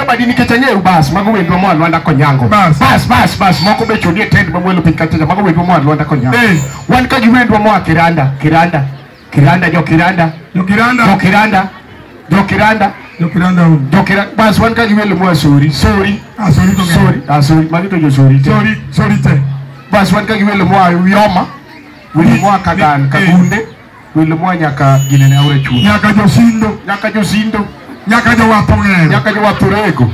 Abadi nikech ang'eyo bas mago wendwa moa Lwanda Konyango. Bas. Bas bas bas moko be chodie tent mamwelo piny kachacha mago wendwa moa Lwanda Konyango. Eh. Wan ka gi wendwa moa Kiranda, Kiranda, Kiranda jo Kiranda, jo Jokiranda. Kiranda, jo Kiranda, Jokiranda un. jo Kiranda. Bas wan ka gi wendwa moa Sori, Sori, Asori to Sori, ah Sori, magi to jo Sori. te. Sori, sori te. Bas wan ka gi wendwa moa Yoma, wendwa moa Kagan, Eh. Kagunde. Welo moa nyaka ginene aora chuny. nyaka josindo Nyaka josindo, nyaka jowath ong'ero nyaka jowath orego.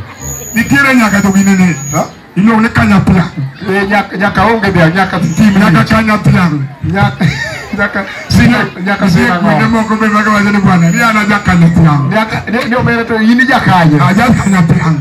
nitiere nyaka joginene Ha? iluongo ni kanyapla Eh, nyaka- Nyaka onge dhiang', nyaka tim nyaka nyaka kanyathiang' nyaka nyaka Nitie nyaka kuonde sinang'o. moko be mag wacho ni bwana ni an aja kanyathiang' Nyaka ni ni omera to in ijakanye. aja kanyathiang'